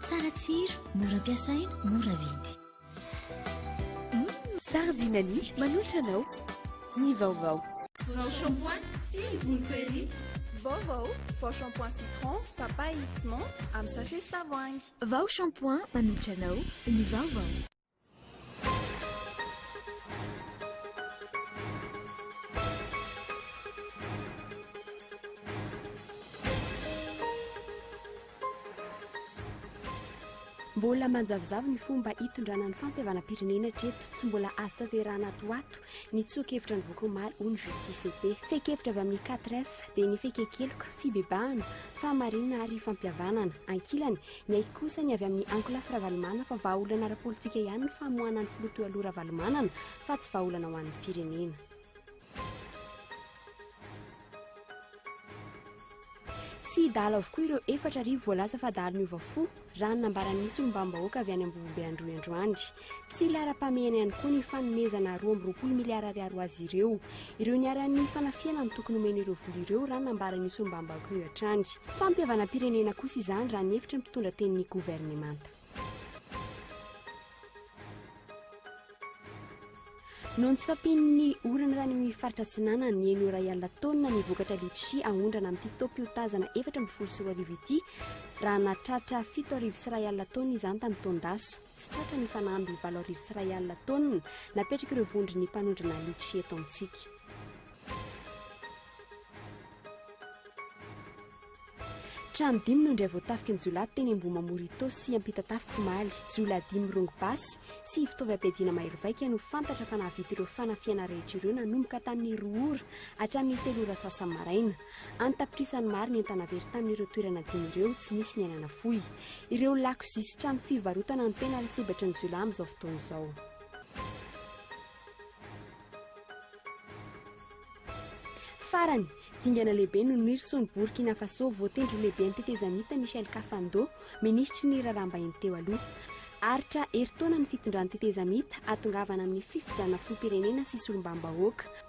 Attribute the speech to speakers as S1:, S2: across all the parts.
S1: Tsara tsiro, mora ampiasaina, mora vidy. Mmm,
S2: Sardinani manolotra anao ny vaovao. Vao shampoing
S3: sy ny volo perruque. Vaovao,
S2: vao shampoing citron, papaye sy menthe amin'ny sachet sy tavoahangy. Vao shampoing
S1: manolotra anao ny vaovao.
S4: Mbola manjavozavo ny fomba hitondrana ny fampihavanam-pirenena hatreto. Tsy mbola azo tanterahana ato ho ato ny tsoa-kevitra nivoaka omaly ho ny Justice et Paix. Fehin-kevitra avy amin'ny 4F dia ny fehin-keloka, fibebahana, fahamarinana ary fampihavanana. Ankilany, Ny ahy kosa ny avy amin'ny ankolafy Ravalomanana fa vahaolana ara-politika ihany ny famoahana ny filoha Toaloha Ravalomanana fa tsy vahaolana ho an'ny firenena. Tsy hidahalo avokoa ireo efatra arivo voalaza fa dahalo niova fo, raha ny nambaran'ny solombavambahoaka avy any Ambovobe Androy androany. Tsy laharam-pahamehana ihany koa ny fanomezana roa amby roapolo miliara ariary ho azy ireo. Ireo niharan'ny fanafihana no tokony homena ireo vola ireo, raha nambaran'io solombavambahoaka io hatrany. Fampihavanam-pirenena kosa izany, raha ny hevitry ny mpitondra tenin'ny governemanta. Noho ny tsy fampian'ny orana tany amin'ny faritra Atsinanana, niheno iray alina taonina ny vokatra litchi aondrana amin'ity taom-piotazana efatra ambin'ny folo sy roa arivo ity, raha nahatratra fito arivo sy iray alina taonina izany tamin'ny taon-dasa. Tsy tratra ny fanamby valo arivo sy iray alina taonina napetrak'ireo vondron'ny mpanondrana litchi eto amintsika. Trano dimy no indray voatafika ny jiolahy teny Ambohimamorito sy Ampitatafika omaly. Jiolahy dimy mirongo basy sy fitaovy ampiadiana mahery vaika no fantatra fa nahavita ireo fanafihana rehetra ireo nanomboka tamin'ny roa ora hatramin'ny telo ora sasany maraina. An-tapitrisany maro ny entana very tamin'ireo toerana dimy ireo tsy nisy ny aina nafoy. Ireo lakozia sy trano fivarotana no tena lasibatry ny jiolahy amin'izao fotoana izao. Farany, dingana lehibe no nirison'i Burkina Faso, voatendry ho lehiben'ny tetezamita Michel Kafando, minisitry ny raharaham-bahiny teo aloha. Aritra herintaona ny fitondran'ny tetezamita, hahatongavana amin'ny fifidianana filoham-pirenena sy solombavambahoaka.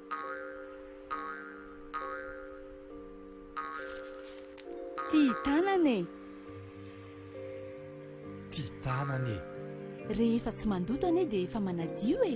S5: Tia tanana e!
S6: Tia tanana e! Rehefa
S5: tsy mandoto anie dia efa manadio e!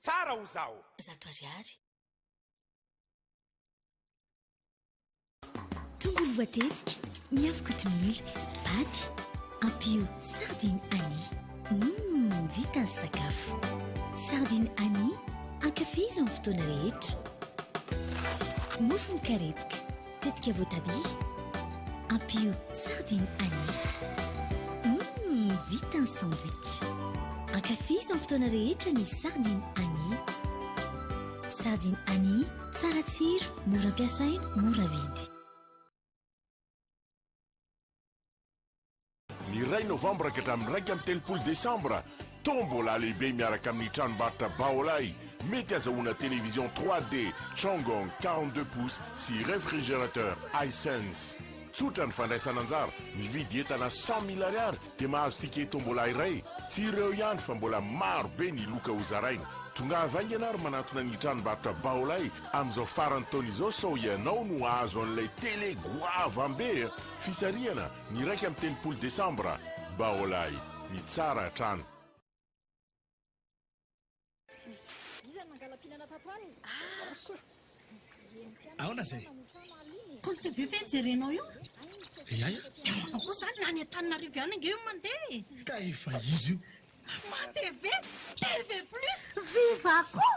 S1: Tsara o zaho.
S7: Zato ariary.
S1: Tongolo voatetika, miavo kotomila, paty, ampio sardine Annie. Humm, vita ny sakafo. Sardine Annie, ankafizo amin'ny fotoana rehetra. Mofo mikarepoka. Tetika voatabia, ampio sardine ail. Hum, vita ny sandwich. Ankafizo amin'ny fotoana rehetra ny sardine ail. Sardine ail, tsara tsiro, mora ampiasaina, mora vidy.
S8: Ny iray novambra ka hatramin'ny iraika amby telopolo desambra, Tombola lehibe miaraka amin'ny tranombarotra Baolai, mety hazahoana télévision 3D Changong quarante deux pouces sy réfrigérateur Hisense. Tsotra ny fandraisana anjara, mividy entana cent mille ariary dia mahazo ticket Tombola iray. Tsy ireo ihany fa mbola maro be ny loka ho zaraina. Tongava haingana ary manantona ny tranombarotra Baolai amin'izao faran'ny taona izao sao ianao no hahazo an'ilay télé goavam-be a! Fisarihana ny iraika amby telopolo desambra, Baolay, ny tsara hatrany.
S9: Aona zay? Compte TV
S10: ve jerenao io? Eia eia.
S9: Ao koa zany
S10: na any Antananarivo ihany ange io mandeha e. Ka efa
S9: izy io. Ma TV,
S10: TV plus, viva koa.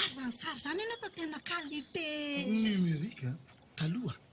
S10: Ary zany sary zany anie atao tena qualité. Numérique a.
S9: Taloha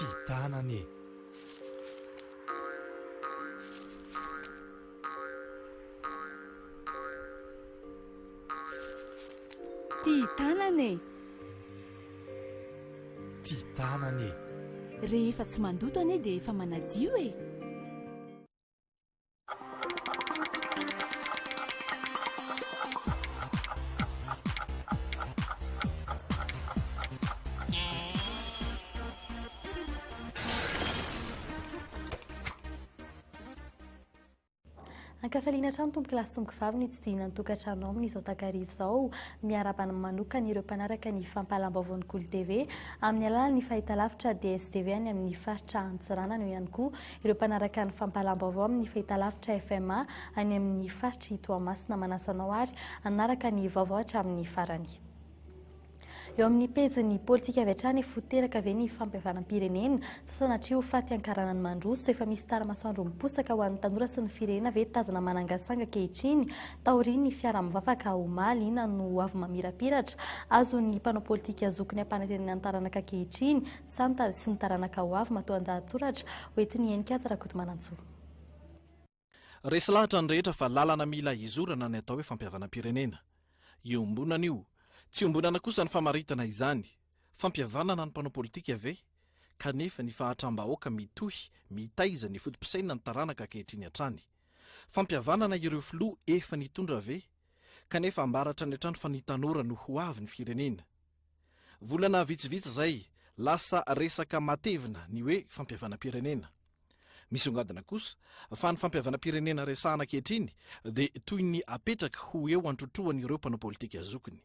S6: Ty tanana e!
S5: Ty tanana e!
S6: Ty tanana e! Rehefa
S5: tsy mandoto anie dia efa manadio e!
S11: Ankafaliana hatrany tompoko lahy sy tompoko vavy ny tsidihina ny tokantranonao amin'izao takariva izao. Miarahaba manokana ireo mpanaraka ny fampahalam-baovaon'ny Golo TV amin'ny alalan'ny fahitalavitra DSTV any amin'ny faritra Antsiranana eo ihany koa Ireo mpanaraka ny fampahalam-baovao amin'ny fahitalavitra FMA any amin'ny faritr'i Toamasina manasa anao àry hanaraka ny vaovao hatramin'ny farany. Eo amin'ny pejin'ny politika avy hatrany fo teraka ve ny fampihavanam-pirenena sa sanatria ho faty ankaranany mandroso? Efa misy tara-masoandro miposaka ho an'ny tanora sy ny firenena ve tazana manangasanga ankehitriny taorian'ny fiara mivavaka omaly? Inona no hoavy mamirapiratra azon'ny mpanao politika zokiny ampanantenana ny taranaka ankehitriny? Santany sy ny taranaka ho avy matoa an-dahatsoratra ho entin'i Heninkaja Rakotomanantsoa.
S12: Resy lahatra ny rehetra fa lalana mila hizorana ny atao hoe fampihavanam-pirenena. Iombonana io. Tsy iombonana kosa ny famaritana izany. Fampihavanana ny mpanao politika ve? Kanefa ny fahatram-bahoaka mitohy mitaiza ny foto-pisainan'ny taranaka ankehitriny hatrany. Fampihavanana ireo filoha efa nitondra ve? Kanefa ambara hatrany hatrany fa ny tanora no ho avy ny firenena. Volana vitsivitsy izay, lasa resaka matevina ny hoe fampihavanam-pirenena. Misongadina kosa fa ny fampihavanam-pirenena resahana ankehitriny dia toy ny apetraka ho eo an-trotroan'ireo mpanao politika zokiny.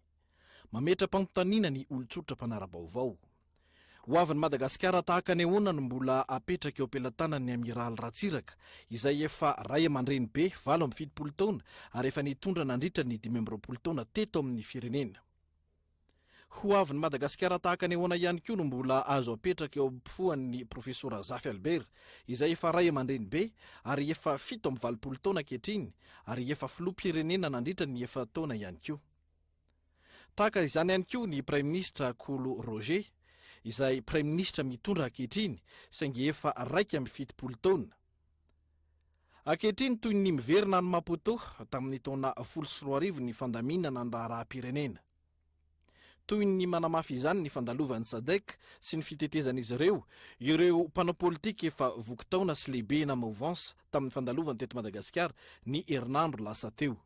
S12: Mametra-panontaniana ny olon-tsotra mpanara-baovao. Ho avin'i Madagasikara tahaka ny ahoana no mbola apetraka eo am-pelatanan'ny Amiraly Ratsiraka izay efa ray aman-dreny be valo amby fitopolo taona ary efa nitondra nandritra ny dimy amby roapolo taona teto amin'ny firenena? Ho avin'i Madagasikara tahaka ny ahoana ihany koa no mbola azo apetraka eo am-poan'ny Profesora Zafy Albert, izay efa ray aman-dreny be ary efa fito amby valopolo taona ankehitriny ary efa filoham-pirenena nandritra ny efatra taona ihany koa. Tahaka izany ihany koa ny Praiminisitra Kolo Roger, izay Praiminisitra mitondra ankehitriny saingy efa raika amby fitopolo taona. Ankehitriny, toy ny miverina any Maputo tamin'ny taona folo sy roa arivo ny fandaminana ny raharaham-pirenena. Toy ny manamafy izany ny fandalovan'ny Sadc sy ny fitetezan'izy ireo ireo mpanao politika efa voky taona sy lehibe na mouvances tamin'ny fandalovany teto Madagasikara ny herinandro lasa teo.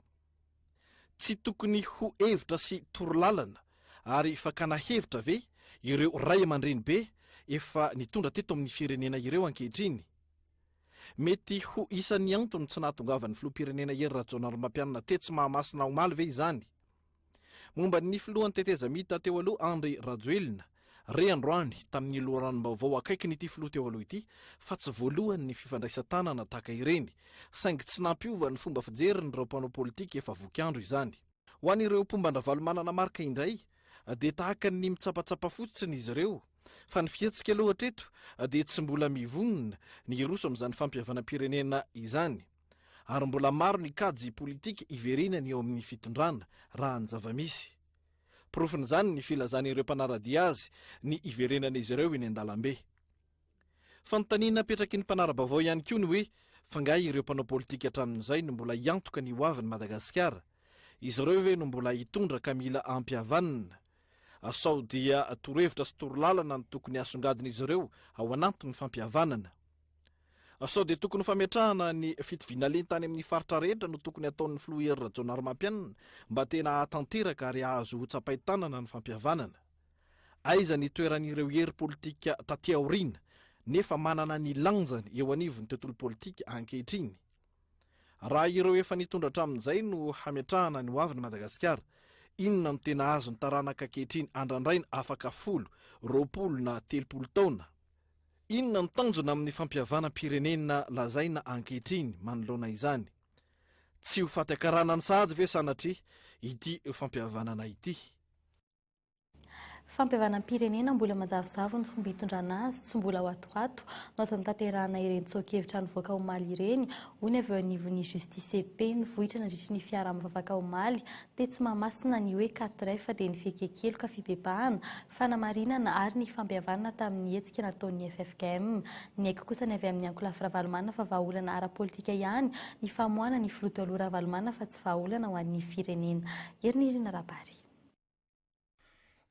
S12: Tsy tokony ho hevitra sy torolalana ary fakana hevitra ve ireo ray aman-dreny be efa nitondra teto amin'ny firenena ireo ankehitriny? Mety ho isan'ny antony tsy nahatongavan'ny filoham-pirenena Hery Rajaonarimampianina tetsy Mahamasina omaly ve izany? Momba ny filohan'ny tetezamita teo aloha Andry Rajoelina, Re androany, tamin'ny loharanom-baovao akaikin'ity filoha teo aloha ity, fa tsy voalohany ny fifandraisan-tanana tahaka ireny, saingy tsy nampiova ny fomba fijerin'ireo mpanao politika efa voky andro izany. Ho an'ireo mpomba an-dRavalomanana Marc indray, dia tahaka ny mitsapatsapa fotsiny izy ireo, fa ny fihetsika aloha hatreto dia tsy mbola mivonona ny hiroso amin'izany fampihavanam-pirenena izany. Ary mbola maro ny kajy politika hiverenany eo amin'ny fitondrana, raha ny zava-misy. Porofon'izany ny filazan'ireo mpanara-dia azy ny hiverenan'izy ireo eny an-dalambe. Fanontaniana apetraky ny mpanara-baovao ihany koa ny hoe f'angaha ireo mpanao politika hatramin'izay no mbola hiantoka ny hoavin'i Madagasikara? Izy ireo ve no mbola hitondra ka mila ampy havanana? Sao dia torohevitra sy torolalana no tokony hasongadin'izy ireo ao anatin'ny fampihavanana? Sao dia tokony fametrahana ny fitoviana lenta any amin'ny faritra rehetra no tokony ataon'ny filoha Hery Rajaonarimampianina mba tena hahatanteraka ary hahazo ho tsapain-tanana ny fampihavanana? Aiza ny toeran'ireo hery politika taty aoriana nefa manana ny lanjany eo anivon'ny tontolo politika ankehitriny? Raha ireo efa nitondra hatramin'izay no hametrahana ny hoavin'i Madagasikara, inona no tena azon'ny taranaka ankehitriny andrandraina afaka folo, roapolo na telopolo taona? Inona no tanjona amin'ny fampihavanam-pirenena lazaina ankehitriny manoloana izany? Tsy ho faty an-karana ny sahady ve sanatria ity fampihavanana ity?
S11: Fampihavanam-pirenena mbola manjavozavo ny fomba hitondrana azy, tsy mbola watowato no azo anatanterahana ireny tsoa-kevitra nivoaka omaly ireny, hoy ny avy eo anivon'ny Justicepp. Nivoitra nandritry ny fiaraha-mivavaka omaly tetsy Mahamasina ny hoe quatre F dia ny fihekea-keloka, fibebahana, fanamarinana ary ny fampihavanana tamin'ny hetsika nataon'ny ffkm. Niaiky kosa ny avy amin'ny ankolafy Ravalomanana fa vahaolana ara-politika ihany ny famoahana ny filoha taloha Ravalomanana fa tsy vahaolana ho an'ny firenena. Herinirina Rabary.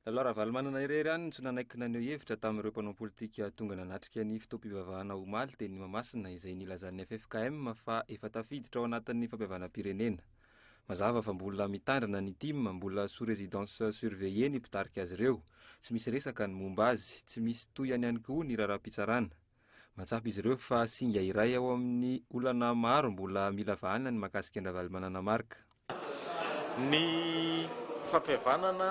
S13: Lalao Ravalomanana irery ihany no tsy nanaiky naneho hevitra tamin'ireo mpanao politika tonga nanatrika ny fotoam-pivavahana omaly teny Mahamasina izay nilazan'ny ffkm fa efa tafiditra ao anatin'ny fampihavanam-pirenena. Mazava fa mbola mitandrina ny tim, mbola sous residence surveillée ny mpitarika azy ireo, tsy misy resaka ny momba azy, tsy misy tohihany ihany koa ny raharaham-pitsarana. Mahatsapa izy ireo fa singa iray ao amin'ny olana maro mbola mila vahana ny mahakasika an-dRavalomanana Marc. Ny
S14: fampihavanana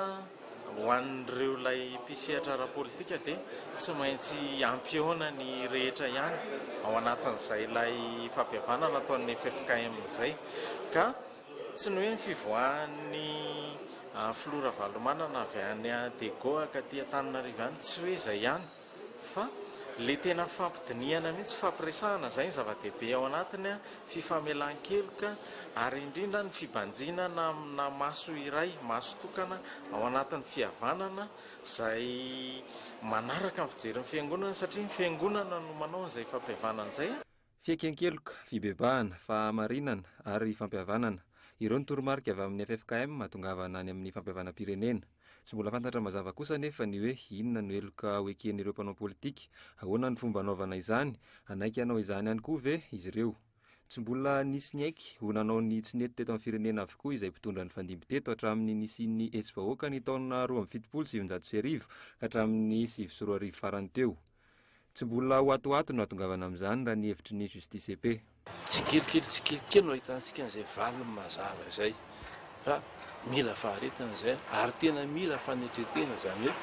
S14: Ho an'ireo ilay mpisehatra ara-politika dia tsy maintsy ampihaona ny rehetra ihany ao anatin'izay ilay fampihavanana ataon'ny ffkm izay ka tsy ny hoe ny fivoahan'ny filoha Ravalomanana avy any Dego hakatỳ Antananarivo ihany, tsy hoe izay ihany. Fa le tena fampidinihana mihitsy fampiresahana izay ny zava-dehibe ao anatiny an, fifamelan-keloka ary indrindra ny fibanjinana amina maso iray, maso tokana ao anatin'ny fihavanana izay manaraka ny fijerin'ny fiangonana satria ny fiangonana no manao an'izay fampihavanana izay. Fieken-keloka,
S13: fibebahana, fahamarinana ary fampihavanana. Ireo no toromarika avy amin'ny ffkm hahatongavana any amin'ny fampihavanam-pirenena. Tsy mbola fantatra mazava kosa anefa ny hoe inona no heloka ho eken'ireo mpanao politika, ahoana ny fomba hanaovana izany, hanaiky hanao izany ihany koa ve izy ireo? Tsy mbola nisy niaiky ho nanao ny tsy nety teto amin'ny firenena avokoa izay mpitondra nifandimby teto hatramin'ny nisian'ny hetsi-bahoaka ny taona roa amby fitopolo sy sivinjato sy arivo ka hatramin'ny sivy sy roa arivo farany teo. Tsy mbola ho atoato no atongavana amin'izany raha ny hevitry ny Justicepe. Tsikelikely tsikelikely
S15: no ahitantsika an'izay valiny mazava izay fa mila faharetana izay ary tena mila fanetretena izany hoe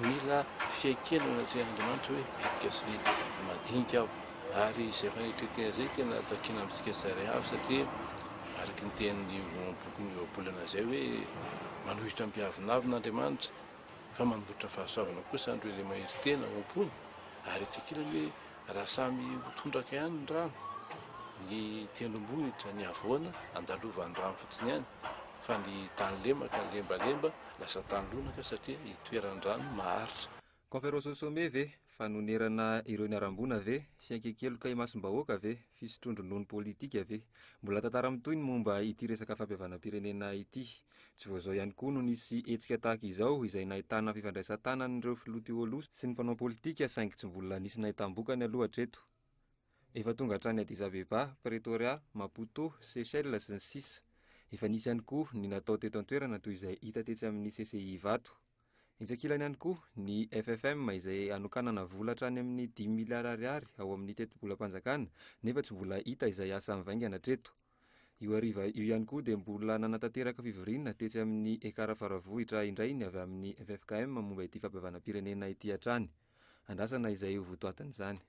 S15: mila fiaikena eo anatrehan'Andriamanitra hoe bitika sy madinika aho ary izay fanetretena izay tena takiana amintsika tsirairay avy satria araka ny tenin'io bokin'ny Ohabolana izay hoe manohitra ampiavonavona Andriamanitra fa manolotra fahasoavana kosa andro ilay mahery tena ao am-pony ary etsy ankilany hoe raha samy ho tondraka ihany ny rano ny tendrombohitra ny havoana andalovan'ny rano fotsiny ihany fa ny tany lemaka lembalemba lasa tany lonaka satria itoeran'ny rano maharitra. Conference sommet
S13: ve?
S15: Fanonerana
S13: ireo niharam-boina ve? Fiankekeloka imasom-bahoaka ve? Fisotroan-dronono politika ve? Mbola tantara mitohy ny momba ity resaka fampihavanam-pirenena ity. Tsy vao izao ihany koa no nisy hetsika tahaka izao izay nahitana fifandraisan-tanan'ireo filoha Tiolosa sy ny mpanao politika saingy tsy mbola nisy nahitam-bokany aloha hatreto. Efa tonga hatrany Addis Abeba, Pretoria, Maputo, Seychelles sy ny sisa Efa nisy ihany koa ny natao teto an-toerana toy izay hita tetsy amin'ny CCI Ivato. Etsy ankilany ihany koa ny FFM izay hanokanana vola hatrany amin'ny dimy miliara ariary ao amin'ny tetibolam-panjakana nefa tsy mbola hita izay asa mivaingana hatreto. Io hariva io ihany koa dia mbola nanatanteraka fivoriana tetsy amin'ny Ekar Faravohitra indray ny avy amin'ny ffkm momba ity fampihavanam-pirenena ity hatrany. Andrasana izay ho votoatin'izany.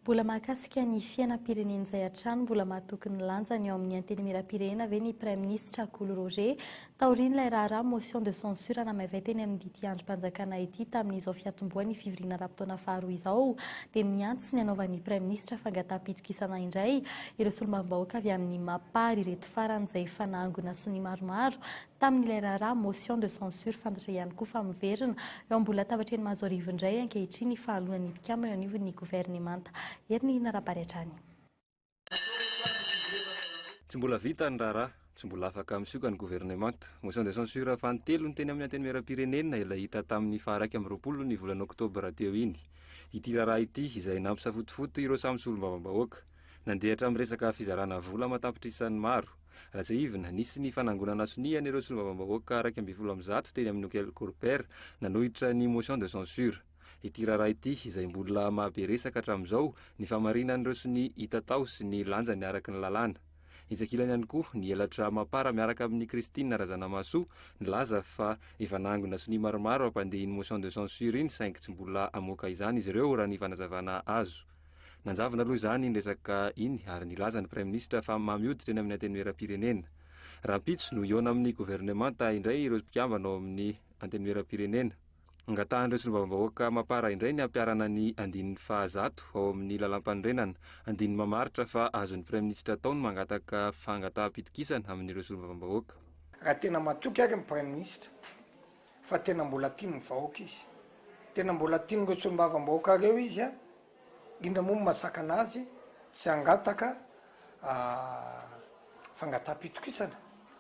S11: Mbola mahakasika ny fiainam-pirenena izay hatrany, mbola mahatoky ny lanjany eo amin'ny Antenimierampirenena ve ny Praiminisitra Kolo Roger Taorian'ilay raharaha motion de censure namaivay teny amin'ity andrim-panjakana ity tamin'izao fiatombohan'ny fivoriana ara-potoana faharoa izao dia mihantsy ny anaovan'ny Praiminisitra fangataha-pitokisana indray ireo solombavambahoaka avy amin'ny Mapar ireto farany izay efa nahangona sonia maromaro tamin'ilay raharaha motion de censure fantatra ihany koa fa miverina eo ambony latabatren'ny Mazoarivo indray ankehitriny fahaloan'ny mpikambana eo anivon'ny Governemanta. Herinihinarabary hatrany.
S13: Tsy mbola vita ny raharaha, tsy mbola afaka misioka ny governemanta. Motion de censure fanintelony teny amin'ny Antenimierampirenena ilay hita tamin'ny faha iraika amby roapolo ny volana oktobra teo iny. Ity raharaha ity izay nampisafotofoto ireo samy solombavambahoaka. Nandeha hatramin'ny resaka fizarana vola aman-tapitrisany maro. Raha tsiahivina, nisy ny fanangonana sonia an'ireo solombavambahoaka iraika ambin'ny folo amin'ny zato teny amin'ny Hokel Corper nanohitra ny motion de censure. ity raharaha ity izay mbola mahabe resaka hatramin'izao ny fahamarinan'ireo sonia hita tao sy ny lanjany araka ny lalàna. Intsakilany ihany koa ny elatra Mapar miaraka amin'i Christine Razanamahasoa nilaza fa efa nangona sonia maromaro hampandeha iny motion de censure iny saingy tsy mbola hamoaka izany izy ireo raha ny fanazavana azo. Nanjavona aloha izany iny resaka iny ary nilaza ny Praiminisitra fa mamy hoditra eny amin'ny Antenimierampirenena. Rahampitso no hihaona amin'ny governemanta indray ireo mpikambana ao amin'ny Antenimierampirenena. Angatahan'ireo solombavambahoaka Mapar indray ny hampiharana ny andininy faha zato ao amin'ny Lalàmpanorenana. Andininy mamaritra fa azon'ny Praiminisitra atao ny mangataka fangataham-pitokisana amin'ireo solombavambahoaka. Raha tena
S16: matoky ary ny Praiminisitra fa tena mbola tian'ny vahoaka izy, tena mbola tian'ireo solombavambahoaka ireo izy, Inona moa no mahasakana azy tsy hangataka fangataham-pitokisana?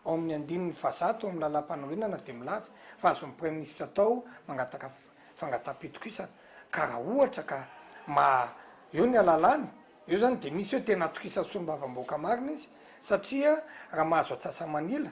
S16: Ao amin'ny andininy fahazato ao amin'ny Lalàmpanorenana dia milaza fa azon'ny Praiminisitra atao mangataka fangataham-pitokisana ka raha ohatra ka maha eo ny alalàny, eo izany dia misy hoe tena atokisany solombavambahoaka marina izy satria raha mahazo antsasa-manila,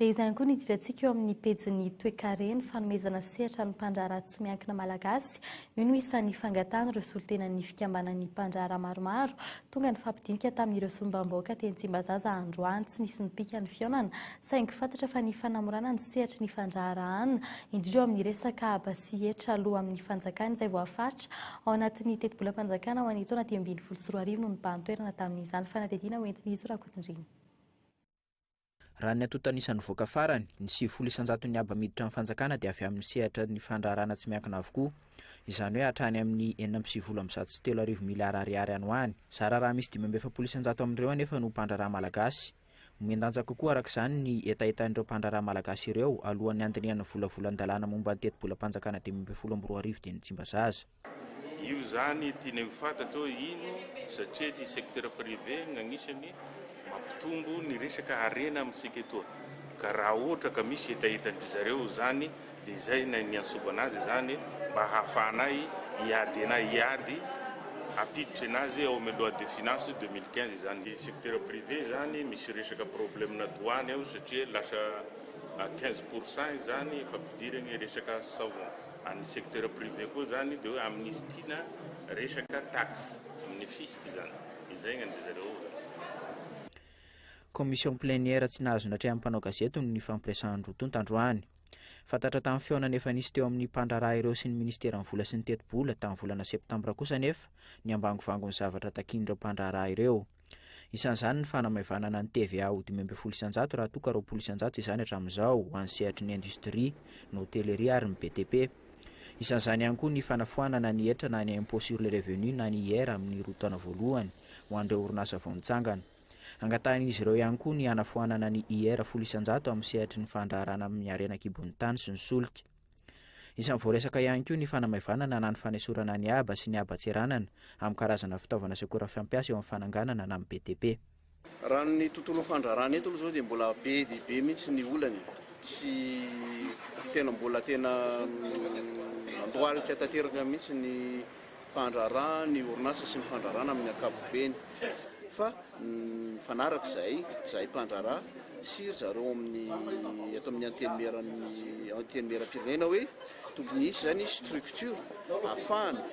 S11: Dia izany koa ny idirantsika eo amin'ny pejin'ny toekareny, fanomezana sehatra ny mpandraharaha tsy miankina malagasy. Io no isan'ny fangatahana ireo solontenan'ny fikambanan'ny mpandraharaha maromaro. Tonga nifampidinika tamin'ireo solombavambahoaka teny Tsimbazaza androany. Tsy nisy nipika ny fihaonana saingy fantatra fa ny fanamorana ny sehatry ny fandraharahana, indrindra eo amin'ny resaka haba sy hetra aloa amin'ny fanjakana izay voafaritra ao anatin'ny tetibolam-panjakana ho an'ny taona dimy ambin'ny folo sy roa arivo no nibahan-toerana tamin'izany fanadihadiana hoentin'izy Rakotondriana.
S17: Raha ny antontan'isa nivoaka farany, ny sivifolo isan-jaton'ny haba miditra ny fanjakana dia avy amin'ny sehatra ny fandraharahana tsy miankina avokoa. Izany hoe hatrany amin'ny enina amby sivifolo amby zato sy telo arivo miliara ariary any ho any. Zara raha misy dimy amby efapolo isan-jato amin'ireo anefa no mpandraharaha malagasy. Mihen-danja kokoa araka izany ny hetahetan'ireo mpandraharaha malagasy ireo alohan'ny handinihan'ny volavolan-dalàna momba ny tetibolam-panjakana dimy ambin'ny folo amby roa arivo dia ny Tsimbazaza. Io
S18: izany tiana ho fantatra hoe ino satria ny secteur privé no anisany mampitombo ny resaka harena amintsika etoa ka raha ohatra ka misy hetahetan-dry zareo izany dia izay no niantsoana azy izany mba hahafahanay hiady anay hiady hampiditra anazy ao amin'ny loi de finance deux mille quinze izany ny secteur privé izany misy resaka problème douane ao satria lasa à quinze pour cent izany fampidirany resaka savon. Amin'ny secteur privé koa izany dia hoe amnistiana resaka taxe amin'ny fisc izany. Izay angamba zareo.
S17: Commission plénière tsy nahazo natrehan'ny mpanao gazety noho ny fampiresahany roa tonta androany. Fantatra tamin'ny fihaonana efa nisy teo amin'ny mpandraharaha ireo sy ny Ministeran'ny Vola sy ny Tetibola tamin'ny volana Septambra kosa anefa ny ambangovangony zavatra takian'ireo mpandraharaha ireo. Isan'izany ny fanamaivanana ny TVA ho dimy ambin'ny folo isan-jato raha toa ka roapolo isan-jato izany hatramin'izao ho an'ny sehatry ny indostria, ny hôtellerie ary ny BTP. Isan'izany ihany koa ny fanafoanana ny hetra na ny impôt sur le revenu na ny IR amin'ny roa taona voalohany ho an'ireo orinasa vao nitsangana. Angatahin'izy ireo ihany koa ny hanafoanana ny IR folo isan-jato amin'ny sehatry ny fandraharana amin'ny harena an-kibon'ny tany sy ny solika. Isan'ny voaresaka ihany koa ny fanamaivanana na ny fanesorana ny haba sy ny haba tseranana amin'ny karazana fitaovana sy akora fampiasa eo amin'ny fananganana na amin'ny BTP. Raha ny
S19: tontolon'ny fandrarana eto aloha izao dia mbola be dia be mihitsy ny olana e! Tsy tena mbola tena andohalika tanteraka mihitsy ny mpandraharaha ny orinasa sy ny fandraharahana amin'ny ankapobeny fa mifanaraka izahay, izahay mpandraharaha sy ry zareo amin'ny eto amin'ny antenimieran'ny antenimieram-pirenena hoe tokony hisy izany structure ahafahana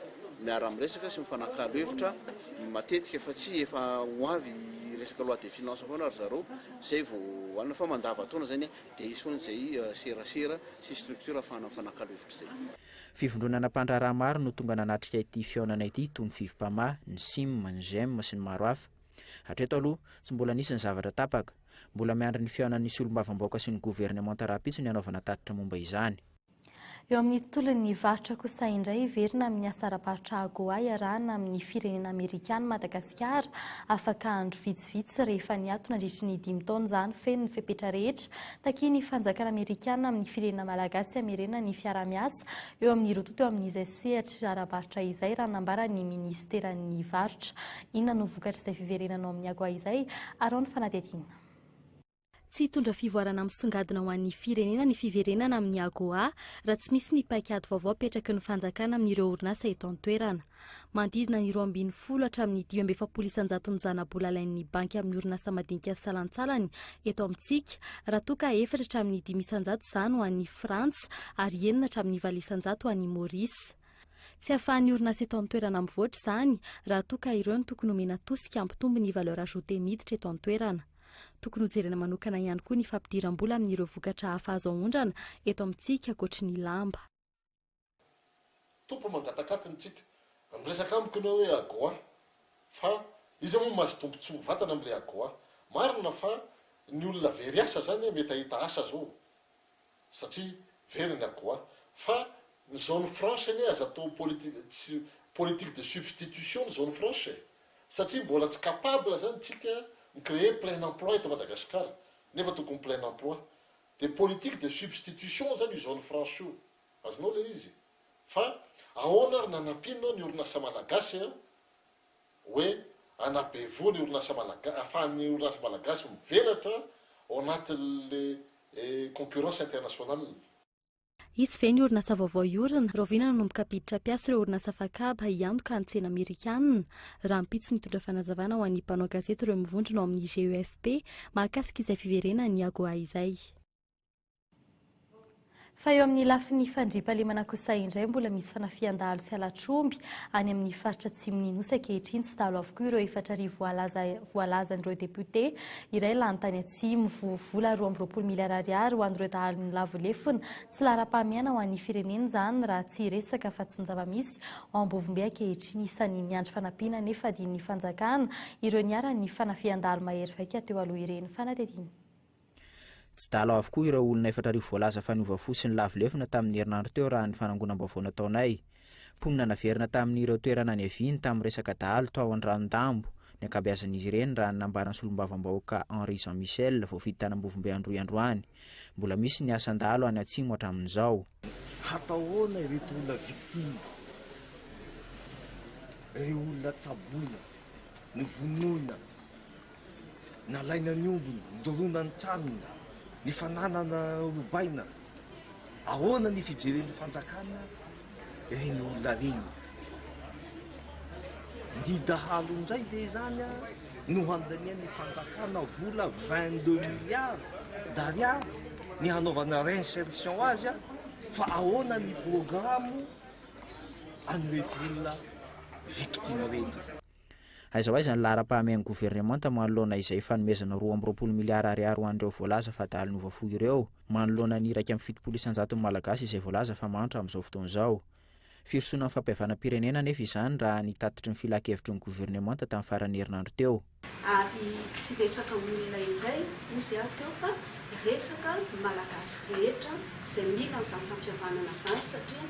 S19: miara-miresaka sy mifanakalo hevitra matetika fa tsy efa ho avy resaka loi de finances foana ry zareo izay vao hohanina fa mandavataona izany dia hisy foana izay serasera sy structure ahafahana mifanakalo hevitra izay. Fivondronana
S17: mpandraharaha maro no tonga nanatrika ity fihaonana ity toy ny Fivpama, ny Sim, ny Gem sy ny maro hafa. Hatreto aloha, tsy mbola nisy ny zavatra tapaka. Mbola miandry ny fihaonan'ny solombavambaoka sy ny governemanta rahampitso ny hanaovana tatitra momba izany. Eo amin'ny
S11: tontolon'ny varotra kosa indray, hiverina amin'ny asa ara-barotra AGOA iarahana amin'ny firenena amerikana Madagasikara afaka andro vitsivitsy. vitsivitsy rehefa niato nandritry ny dimy taona izany feno ny fepetra rehetra takian'ny fanjakana amerikana amin'ny firenena malagasy hamerena ny fiarahamiasa eo amin'ny roa tonta eo amin'izay sehatra ara-barotra izay raha nambara ny minisiteran'ny varotra. Inona no vokatr'izay fiverenanao amin'ny AGOA izay? Arao ny fanadihadiana.
S3: Tsy hitondra fivoarana misongadina ho an'ny firenena ny fiverenana amin'ny AGOA raha tsy misy ny paikady vaovao apetraky ny fanjakana amin'ireo orinasa eto an-toerana. Manodidina ny roa ambin'ny folo hatramin'ny dimy amby efapolo isan-jato ny zana-bola alain'ny banky amin'ny orinasa madinika salantsalany eto amintsika raha toa ka efatra hatramin'ny dimy isan-jato izany ho an'i Frantsa ary enina hatramin'ny valo isan-jato ho an'i Maurice. Tsy ahafahan'ny orinasa eto an-toerana mivoatra izany raha toa ka ireo no tokony homena tosika hampitombo ny valeur ajoutée miditra eto an-toerana. Tokony hojerena manokana ihany koa ny fampidiram-bola amin'ireo vokatra hafa azo aondrana eto amintsika ankoatry ny lamba.
S20: Tompo mangatak'atiny tsika. Miresaka amiko enao hoe AGOA fa iza moa mahazo tombotsoa mivatana amin'ilay AGOA? Marina fa ny olona very asa zany mety ahita asa zao. satria very ny akoho an! Fa ny zone franche anie aza atao politique de substitution ny zone franche e! Satria mbola tsy capable zany tsika mi creer plein emploi eto Madagascar nefa tokony plein emploi! Dia politique de substitution zany io zone franche io! Azonao ilay izy? Fa ahoana ary nanampianao ny orinasa malagasy an! hoe hanabevoa ny orinasa malagasy, ahafahan'ny orinasa malagasy mivelatra ao anatin'ilay concurrence internationale.
S3: Hisy ve ny orinasa vaovao hiorina? Rahoviana nanomboka mpiditra mpiasa ireo orinasa fakaba hiantoka ny tsena amerikanina? Rahampitso mitondra fanazavana ho an'ny mpanao gazety ireo mivondrona ao amin'ny GEFP mahakasika izay fiverenan'i Agoa izay.
S11: Fa eo amin'ny lafiny fandriampahalemana kosa indray mbola misy fanafihan-dahalo sy halatr'omby any amin'ny faritra atsimon'ny Nosy ankehitriny. Tsy dahalo avokoa ireo efatra arivo voalaza voalazan'ireo depiote iray lany tany Atsimo. Voa vola roa amby roapolo miliara ariary ho an'ireo dahalo nilavo lefona. Tsy laharam-pahamehana ho an'ny firenena izany raha tsy resaka fa tsy ny zava-misy ao Ambovombe ankehitriny. Isan'ny miandry fanampiana anefa adinon'ny fanjakana ireo niharan'ny fanafihan-dahalo mahery vaika teo aloha ireny fanadihadiana.
S17: Tsy dalao avokoa ireo olona efatra arivo voalaza fa niova fo sy nilavo lefona tamin'ny herinandro teo raha ny fanangonam-baovao nataonay. Mponina naverina tamin'ireo toerana niaviany tamin'ny resaka dahalo tao Andranodahambo ny ankabeazan'izy ireny raha ny nambaran'ny solombavambahoaka Henri Jean Michel voafidy tanambovombe Androy androany. Mbola misy ny asan-dahalo any Atsimo hatramin'izao. Hatao ahoana
S21: ireto olona victimes, ireo olona tsaboina, novonoina? Nalaina ny ombiny, nodorona ny tranony, ny fananana robaina. Ahoana ny fijeren'ny fanjakana ireny olona ireny? Ny dahalo indray ve izany no handanian'ny fanjakana vola 22 milliards d'ariary ny hanaovana réinsertion azy fa ahoana ny programme an'ireto olona victime ireto?
S17: Aiza ho aiza ny laharam-pahamehan'ny governemanta manoloana izay fanomezana roa amby roapolo miliara ariary ho an'ireo voalaza fa adalon'ny voafoy ireo, manoloana ny iraika amby fitopolo isan-jaton'ny Malagasy izay voalaza fa mahantra amin'izao fotoana izao? Firosoana ny fampihavanam-pirenena anefa izany raha ny tatitry ny filan-kevitry ny governemanta tamin'ny faran'ny herinandro teo. Ary
S2: tsy resaka olona iray ozy aho teo fa resaka ny Malagasy rehetra izay mila an'izany fampihavanana izany satria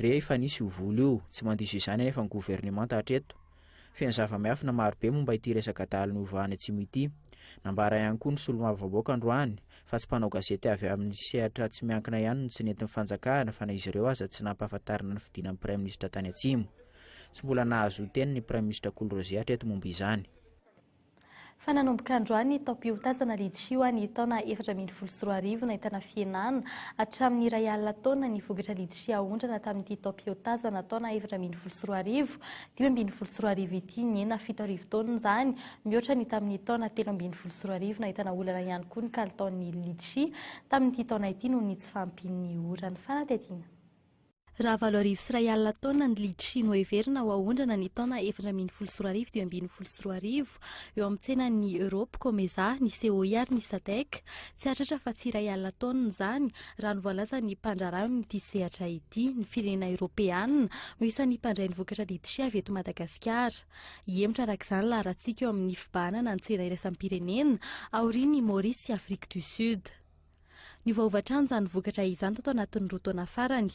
S17: Rehefa nisy io vola io, tsy mandiso izany anefa ny governemanta hatreto. Feno zava-miafina marobe momba ity resaka adala niovahany atsimo ity. Nambara ihany koa ny solombavambahoaka androany fa tsy mpanao gazety avy amin'ny sehatra tsy miankina ihany no tsy nentin'ny fanjakana fa na izy ireo aza tsy nampahafantarina ny fidinan'ny praiminisitra tany atsimo. Tsy mbola nahazoa teny ny praiminisitra Kolrose hatreto momba izany.
S11: Fa nanomboka androany taom-piotazana Litchi ho an'ny taona efatra ambin'ny folo sy roa arivo nahitana fihenana hatramin'ny iray alina taonina ny vokatra Litchi aondrana tamin'ity taom-piotazana taona efatra ambin'ny folo sy roa arivo dimy ambin'ny folo sy roa arivo ity nihena fito arivo taonina izany mihoatra ny tamin'ny taona telo ambin'ny folo sy roa arivo nahitana olana ihany koa ny kalitaon'ny Litchi tamin'ity taona ity noho ny tsy fahampian'ny ora ny fanadihadiana Raha
S3: valo arivo sy iray alina taonina ny litchi no heverina ho aondrana ny taona efatra ambin'ny folo sy roa arivo dimy ambin'ny folo sy roa arivo eo amin'ny tsenan'ny Europe, Comesa, ny COI ary ny Sadec. Tsy hahatratra afa-tsy iray alina taonina izany, raha ny voalazan'ny mpandraharaha amin'ity sehatra ity. Ny firenena Eoropeana no isan'ny mpandray ny vokatra litchi avy eto Madagasikara. Hihemotra araka izany laharatsika eo amin'ny fibahanana ny tsena iraisam-pirenena aorian'ny Maurice sy Afrique du Sud. Niovaova hatrany izany vokatra izany tato anatin'ny roa taona farany.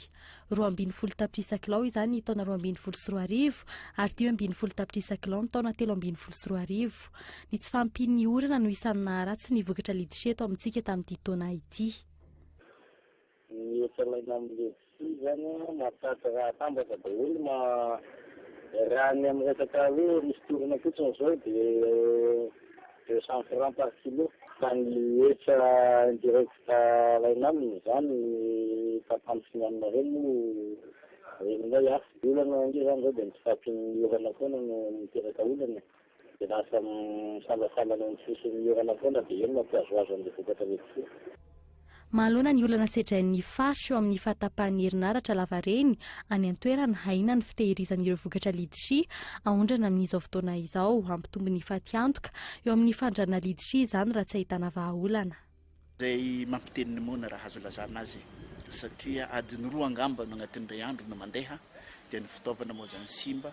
S3: Roa ambin'ny folo tapitrisa kilao izany ny taona roa ambin'ny folo sy roa arivo ary dimy ambin'ny folo tapitrisa kilao ny taona telo ambin'ny folo sy roa arivo. Ny tsy fahampian'ny orana no isan'ny naharatsy ny vokatra liditra eto amintsika tamin'ity taona ity.
S4: Io izany mahatratra raha atambatra daholo ma, raha ny amin'ny resaka hoe misy tourne fotsiny izao dia deux cent francs par kilo, fa ny hetra indirect alaina aminy izany tapany sy ny aminy ireny moa ren'inay hafa, ny olana ange izany izao dia ny tsy fahampian'ny orana foana no miteraka olana e. Dia lasa misalasala ny sisiny orana foana dia eny no ampihazohazo an'ilay vokatra mety tsy. Mahaloana
S3: ny olana sedrain'ny faritra eo amin'ny fahatapahan'ny herinaratra lavareny any an-toerana, ahiana ny fitehirizan'ireo vokatra Litchi aondrana amin'izao fotoana izao. Hampitombo ny fatiantoka eo amin'ny fandrarana Litchi izany raha tsy ahitana vahaolana. Izay
S19: mampiteny ny moana raha azo ilazana azy satria adiny roa angamba no agnatin'ny iray andro no mandeha dia ny fitaovana moa zany simba,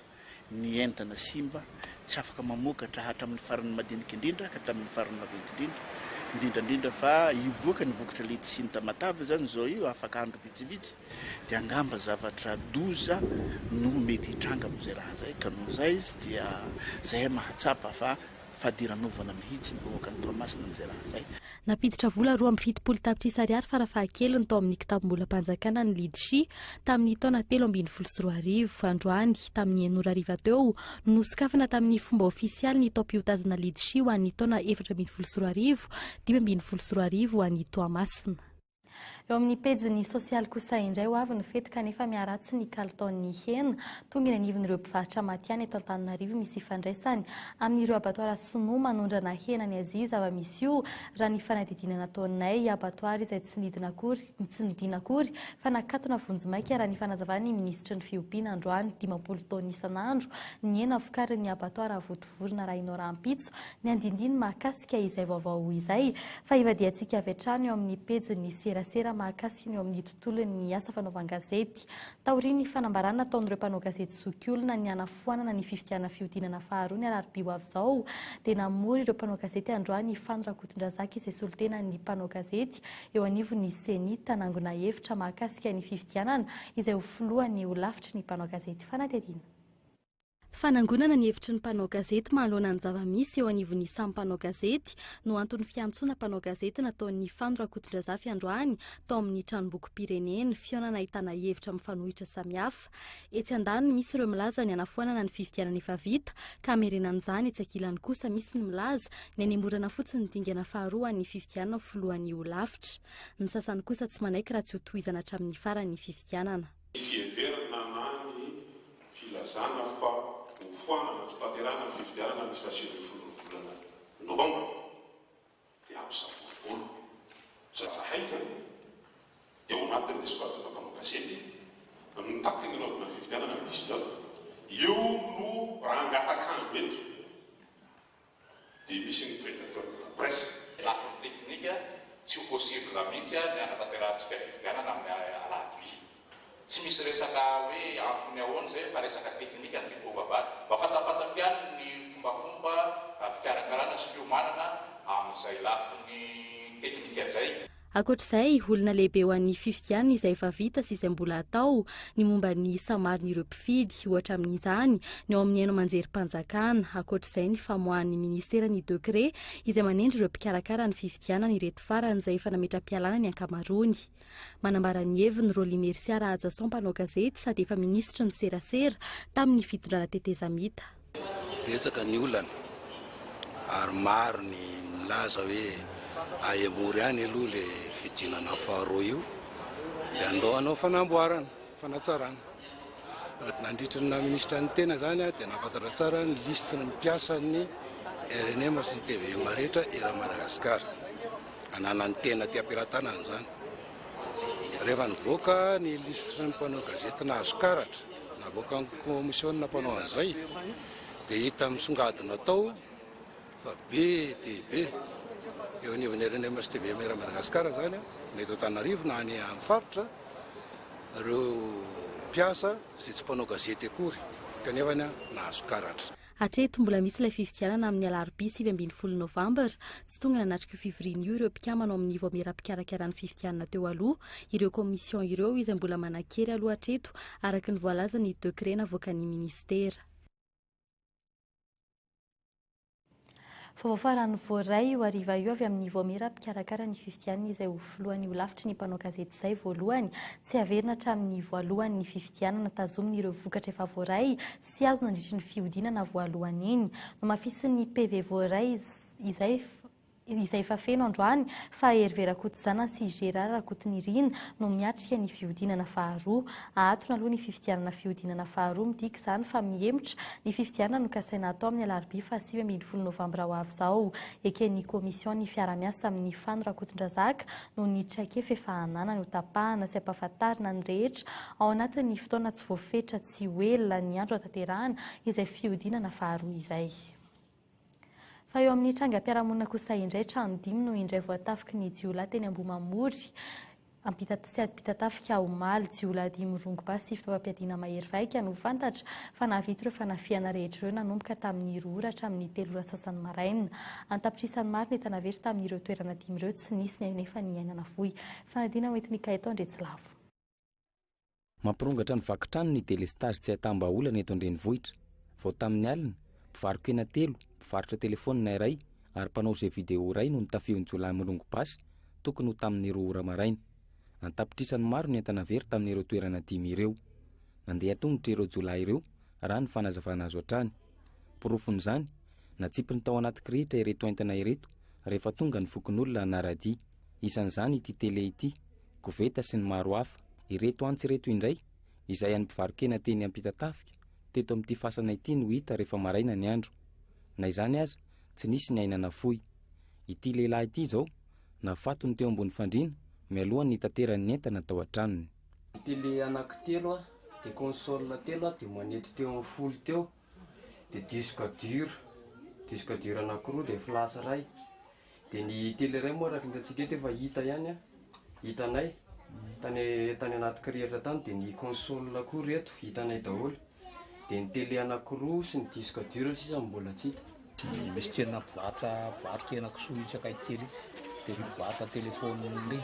S19: ny entana simba, tsy afaka mamokatra hatramin'ny farany madinika indrindra ka hatramin'ny farany maventy indrindra, indrindra indrindra fa hivoaka ny vokatra letisia ny Tamatave zany izao io afaka andro vitsivitsy dia angamba zavatra doza no mety hitranga amin'izay raha zay ka noho izay izy dia zay mahatsapa fa fadiranovana mihitsy ny vahoakan'i Toamasina amin'izay raha izay. Nampiditra vola roa
S3: amby fitopolo tapitrisa ariary farafahakeliny tao amin'ny kitabom-bolam-panjakana ny Lidshi tamin'ny taona telo ambin'ny folo sy roa arivo. Androany, tamin'ny enina ora hariva teo, no nosokafana tamin'ny fomba ofisialy ny taom-piotazana Lidshi ho an'ny taona efatra ambin'ny folo sy roa arivo, dimy ambin'ny folo sy roa arivo ho an'i Toamasina. Eo amin'ny
S11: pejiny sosialy kosa indray ho avy ny fety kanefa miharatsy ny kalitaon'ny hena tonga eny anivon'ireo mpivarotra matihanina eto Antananarivo misy ifandraisany amin'ireo abatoara sinoa manondrana hena ny Azia io zava-misy io raha ny fanadihadiana nataonay abatoara izay tsy nidina akory tsy nidina akory fa nakatona vonjimaika raha ny fanazavan'ny minisitry ny fiompiana androany dimampolo taona isan'andro ny hena vokarin'ny abatoara votovototra Vorona arahinao rahampitso ny andindiny mahakasika izay vaovao izay fa hivadihantsika avy hatrany eo amin'ny pejin'ny serasera mahakasika ny eo amin'ny tontolon'ny asa fanaovan-gazety. Taorian'ny fanambarana ataon'ireo mpanao gazety zokiolona ny hanafoanana ny fifidianana fihodinana faharoa ny alarobia ho avy izao dia namory ireo mpanao gazety androany i Fano Rakotondrazaka izay solontenan'ny mpanao gazety eo anivon'ny ceni tanangona hevitra mahakasika ny fifidianana izay ho filohan'ny holafitry ny mpanao gazety fanadihadiana
S3: Fanangonana ny hevitry ny mpanao gazety manoloana ny zava-misy eo anivon'ny samy mpanao gazety no anton'ny fiantsoana mpanao gazety nataon'i Fano Rakotondrazafy androany tao amin'ny Tranombokim-pirenena, fihaonana ahitana hevitra mifanohitra samihafa. Etsy andaniny misy ireo milaza ny hanafoanana ny fifidianana efa vita ka hamerenana izany, etsy ankilany kosa misy ny milaza ny hanemorana fotsiny ny dingana faharoa an'ny fifidianana ho filohan'ny holafitra. Ny sasany kosa tsy manaiky raha tsy ho tohizana hatramin'ny farany ny fifidianana. Misy heverina na ny.
S22: filazana fa hofoanana tsy hotanterahana ny fifidianana ny faha sivy ambin'ny folo ny volana novambra dia hampisafidy volo zaza haingana dia ao anatin'ny soratana mpanao gazety mitaky ny hanaovana ny fifidianana ny dix neuf io no rangatakango eto dia misy ny predateur de la presse. Lafiny teknika, tsy ho possible mihitsy ny hanatanterahantsika fifidianana amin'ny alarobia. Tsy misy resaka hoe antony ahoana izay fa resaka teknika no tiako hovavahana. Mba fantampatako ihany ny fombafomba fikarakarana sy fiomanana amin'izay lafiny teknika izay. Ankoatra izay,
S3: olana lehibe ho an'ny fifidianana izay efa vita sy izay mbola hatao ny momba ny isa maron'ireo mpifidy, ohatra amin'izany ny ao amin'ny haino aman-jerim-panjakana. Ankoatra izay, ny famoahan'ny minisitera ny dekre izay manendry ireo mpikarakara ny fifidianana ireto farany izay efa nametra-pialana ny ankamaroany. Manambara ny heviny Rolly Mercia Rahajason mpanao gazety sady efa minisitry ny serasera tamin'ny fitondrana tetezamita. Betsaka
S23: ny olana ary maro ny milaza hoe ahemory ihany aloha le fidinana faharoa io dia andao hanao fanamboarana, fanatsarana. Nandritry ny naha minisitra ny tena zany aho dia nahafantatra tsara ny liste ny mpiasa ny rnm sy ny tvm rehetra eran'i Madagasikara ananan'ny tena aty am-pelatanana zany. Rehefa nivoaka ny liste ny mpanao gazety nahazo karatra. Navoakan'ny kaomisionina mpanao an'izay dia hita misongadina tao fa be dia be eo anivon'ny RNM sy tvm Iray Madagascar izany na eto Antananarivo na any amin'ny faritra ireo mpiasa izay tsy mpanao gazety akory kanefa nahazo karatra. Hatreto, mbola misy ilay
S3: fifidianana amin'ny alarobia sivy ambin'ny folo novambra. Tsy tonga nanatrika io fivoriana io ireo mpikambana ao amin'ny Vaomiera mpikarakara ny fifidianana teo aloha, ireo commission ireo izay mbola manan-kery aloha hatreto, araka ny voalazan'ny décret navoakan'ny minisitera. Vaovao farany voaray io hariva io avy amin'ny Vaomiera mpikarakara ny fifidianana izay ho filohan'ny holafitry ny mpanao gazety izay voalohany tsy haverina hatramin'ny voalohan'ny fifidianana tazominy ireo vokatra efa voaray sy azo nandritry ny fihodinana voalohany iny. Nomafisin'ny PV voaray izay izay efa feno androany fa Hervé Rakotozanana sy Gérard Rakotonirina no miatrika ny fihodinana faharoa Ahatony aloha ny fifidianana fihodinana faharoa, midika izany fa mihemotra ny fifidianana nokasaina hatao amin'ny alarobia fahasivy ambin'ny folo novambra ho avy izao. Eken'ny kaomision'ny fiaraha-miasa amin'ny fano Rakotondrazaka noho ny traikefa efa ananany hotapahana sy hampahafantarina ny rehetra ao anatin'ny fotoana tsy voafetra tsy ho ela ny andro hataterahana izay fihodinana faharoa izay. Fa eo amin'ny trangam-piarahamonina kosa indray, trano dimy no indray voatafiky ny jiolahy teny Ambohimamory, Ampitatafika, omaly. Jiolahy dimy rongobasy sy fitaovam-piadiana mahery vaika no fantatra fa nahavita ireo fanafihana rehetra ireo, nanomboka tamin'ny roa ora hatramin'ny telo ora sasany maraina. An-tapitrisany maro ny entana very tamin'ireo toerana dimy ireo, tsy nisy ny anefa niainana fohy. Fanadinana hoentin'i Gaëtan Andriatsilavo. Mampirongatra
S24: ny vaky trano ny delestazy tsy ahitam-bahaolana eto an-drenivohitra. Vao tamin'ny alina, mpivaro-kena telo, mpivarotra telefaonina iray ary mpanao jeux vidéo iray no nitafion-jiolahy mirongo basy tokony ho tamin'ny roa ora maraina. An-tapitrisany maro ny entana very tamin'ireo toerana dimy ireo. Nandeha an-tongotra ireo jiolahy ireo, raha ny fanazavana azo hatrany. Porofon'izany, natsipiny tao anaty kirihitra ireto entana ireto rehefa tonga ny fokonolona hanara-dia. Isan'izany ity tele ity. koveta sy ny maro hafa. Ireto antsy ireto indray, izay an'ny mpivaro-kena teny Ampitatafika, teto amin'ity fasana ity no hita rehefa maraina ny andro. Na izany aza, tsy nisy ny aina nafoy. Ity lehilahy ity izao, nafatony teo ambony fandriana, mialohan'ny hitaterany ny entana tao an-tranony. Tele anaky
S7: telo, dia console telo, dia manety teo amin'ny folo teo. dia disque dur, disque dur anakiroa dia flash iray, dia ny tele iray moa araka ny hitantsika eto efa hita ihany an, hitanay tany tany anaty kirihitra tany, dia ny console koa ireto hitanay daholo, dia ny tele anakiroa sy ny disque dur sisa no mbola tsy hita. Dia misy tsenana
S25: mpivarotra mpivarokena kisoa itsy akaiky kely itsy, dia ry mpivarotra telefôniny ry,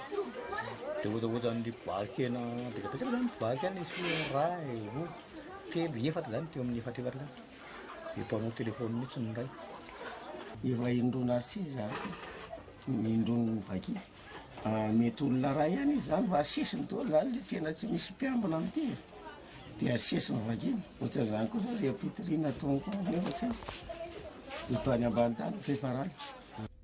S25: dia ohatraohatran'ny mpivarokena betsabetra izany mpivarotra any izy, iray, roa, telo, efatra izany, teo amin'ny efatra efatra izany, dia mpanao telefôniny mihitsy ny iray. Efa
S1: indroa na sivy izany, ny indroany mivaky. Ah, mety olona iray ihany izy izany, fa sisiny daholo izany ilay tsena, tsy misy mpiambina amin'ity e. Dia sesy ny vagina, ohatran'izany koa izao ry Ampitiriana atoniko any nefa tsy haiko, ho tany ambany tany ny fiafarany.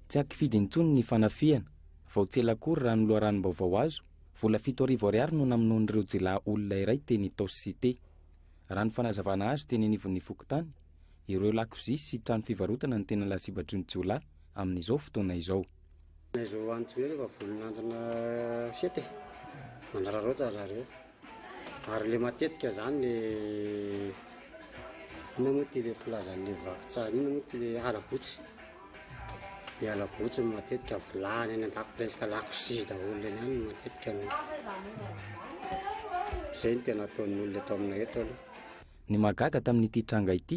S1: Tsy ankifidy
S24: intsony ny fanafihana. Vao tsy ela akory raha ny loharanom-baovao azo, vola fito arivo ariary no namonoan'ireo jiolahy olona iray teny Itaosy Cité. Raha ny fanazavana azo teny anivon'ny fokontany, ireo lakozia sy trano fivarotana no tena lasibatry ny jiolahy amin'izao fotoana izao. Neige ho an'ny
S6: tsinay rehefa vonin'androna fety e, manararaotra zareo ary le matetika zany le inona moa ty le filazan'le vaky tsara inona moa ty le halabotsy le halabotsy no matetika vilany any an-dako presque lakozia daholo eny any no matetika no zay no tena ataon'ny olona eto aminay eto aloha. Ny mahagaga
S24: tamin'ity tranga ity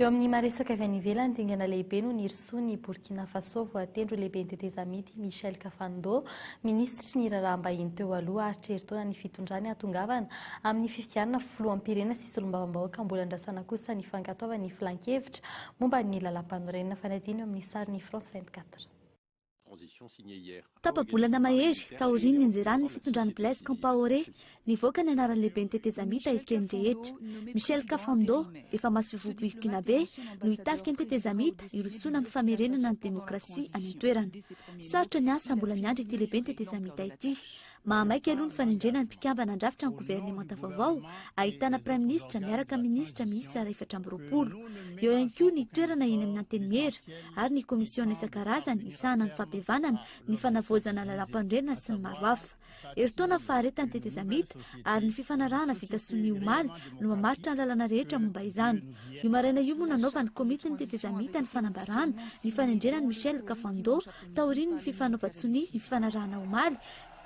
S11: Eo amin'ny maha-resaka avy any ivelany, dingana lehibe no nirosoa ny Burkina Faso, voatendry ho lehiben'ny tetezamita i Michel Kafando, minisitry ny raharaham-bahiny teo aloha haharitra herintaona ny fitondrany hahatongavana amin'ny fifidianana filoham-pirenena sy solombavambahoaka mbola andrasana kosa ny fankatoavan'ny filankevitra momba ny lalàmpanorenana, fanadino eo amin'ny sarin'i France 24.
S8: Tapa-bolana mahery taorian'ny nianjeran'ny fitondran'i Blaise Compaoré nivoaka ny anaran'ny lehiben'ny tetezamita eken'ny rehetra. Michel Kafando, efa masoivoho Burkinabe, no hitarika ny tetezamita hirosoana amin'ny famerenana ny demokrasia any an-toerana. Sarotra ny asa mbola miandry ity lehiben'ny tetezamita ity. Mahamaika aloha ny fanendrena ny mpikambana handrafitra ny governemanta vaovao, ahitana praiminisitra miaraka amin'ny minisitra miisa efatra amby roapolo. Eo ihany koa ny toerana eny amin'ny Antenimiera, ary ny komisiona isan-karazany hisahana ny fampihavanana, ny fanavaozana lalàmpanorenana sy ny maro hafa. Herintaona faharetan'ny tetezamita ary ny fifanarahana vita sonia omaly no mamaritra ny lalana rehetra momba izany. Io maraina io moa nanaovan'ny komity ny tetezamita ny fanambarana ny fanendrena an'i Michel Kafando taorian'ny fifanaovan-tsonia nifanarahana omaly,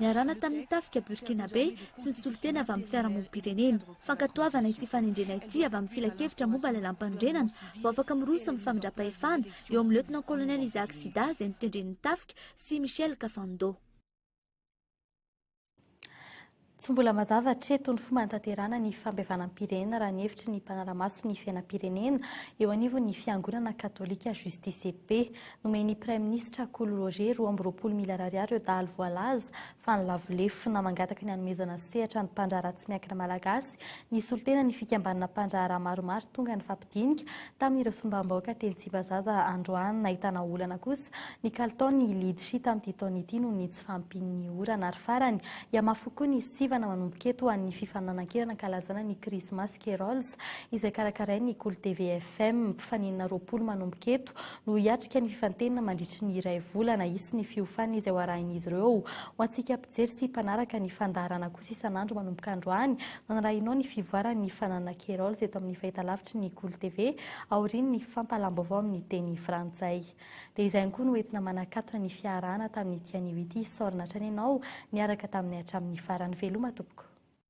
S8: niarahana tamin'ny tafika Burkinabe sy ny solontena avy amin'ny fiarahamonim-pirenena. Fankatoavana ity fanendrena ity avy amin'ny Filankevitra momba ny Lalàmpanorenana vao afaka miroso amin'ny famindram-pahefana eo amin'ny Lieutenant-colonel Isaac Sida izay notendren'ny tafika sy Michel Kafando.
S11: Tsy mbola mazava hatreto ny fomba hanatanterahana ny fampihavanam-pirenena raha ny hevitry ny mpanara-maso ny fiainam-pirenena eo anivon'ny fiangonana katolika Justice et Paix. Nomen'ny praiminisitra Kolo Roger roa amby roapolo miliara ariary ireo dahalo voalaza fa nilavo lefona. Mangataka ny hanomezana sehatra ny mpandraharaha tsy miankina malagasy ny solontenan'ny fikambanana mpandraharaha maromaro tonga ny dinika tamin'ireo sombambaoka teny Tsibazaza androany. Nahitana olana kosa ny kalitaon'ny lidshi tamin'ity taona ity noho ny tsy fahampian'ny orana ary farany hihamafy kokoa ny sivana manomboka eto ho an'ny fifaninanan-kerana ankalazana ny krismasy Kerolls izay karakarain'ny Kolo TV FM. Mpifaninana roapolo manomboka eto no hiatrika ny fifantenana mandritry ny iray volana. Hisy ny fiofanana izay ho arahin'izy ireo ho antsika Mijery sy mpanaraka ny fandaharana kosa isan'andro manomboka androany no anarahinao ny fivoaran'ny fananana Kerolz eto amin'ny fahitalavitry ny Golo TV aorian'ny fampahalam-baovao amin'ny teny frantsay. Dia izay ihany koa no entina manakatona ny fiaharahana tamin'ity anio ity. Saorina hatrany ianao niaraka taminay hatramin'ny farany. Veloma tompoko.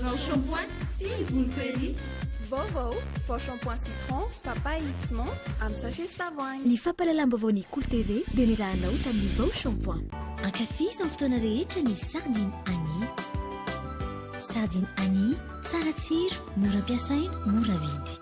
S9: Vao shampoing sy ny volo perry. Vao vao, vao shampoing citron, papaye sy menthe amin'ny sachet sy tavoahangy. Ny fampahalalam-baovao ny
S8: Cool TV dia nirahanao tamin'ny Vao shampoing. Ankafizo amin'ny fotoana rehetra ny Sardine Annie. Sardine Annie, tsara tsiro, mora ampiasaina, mora vidy.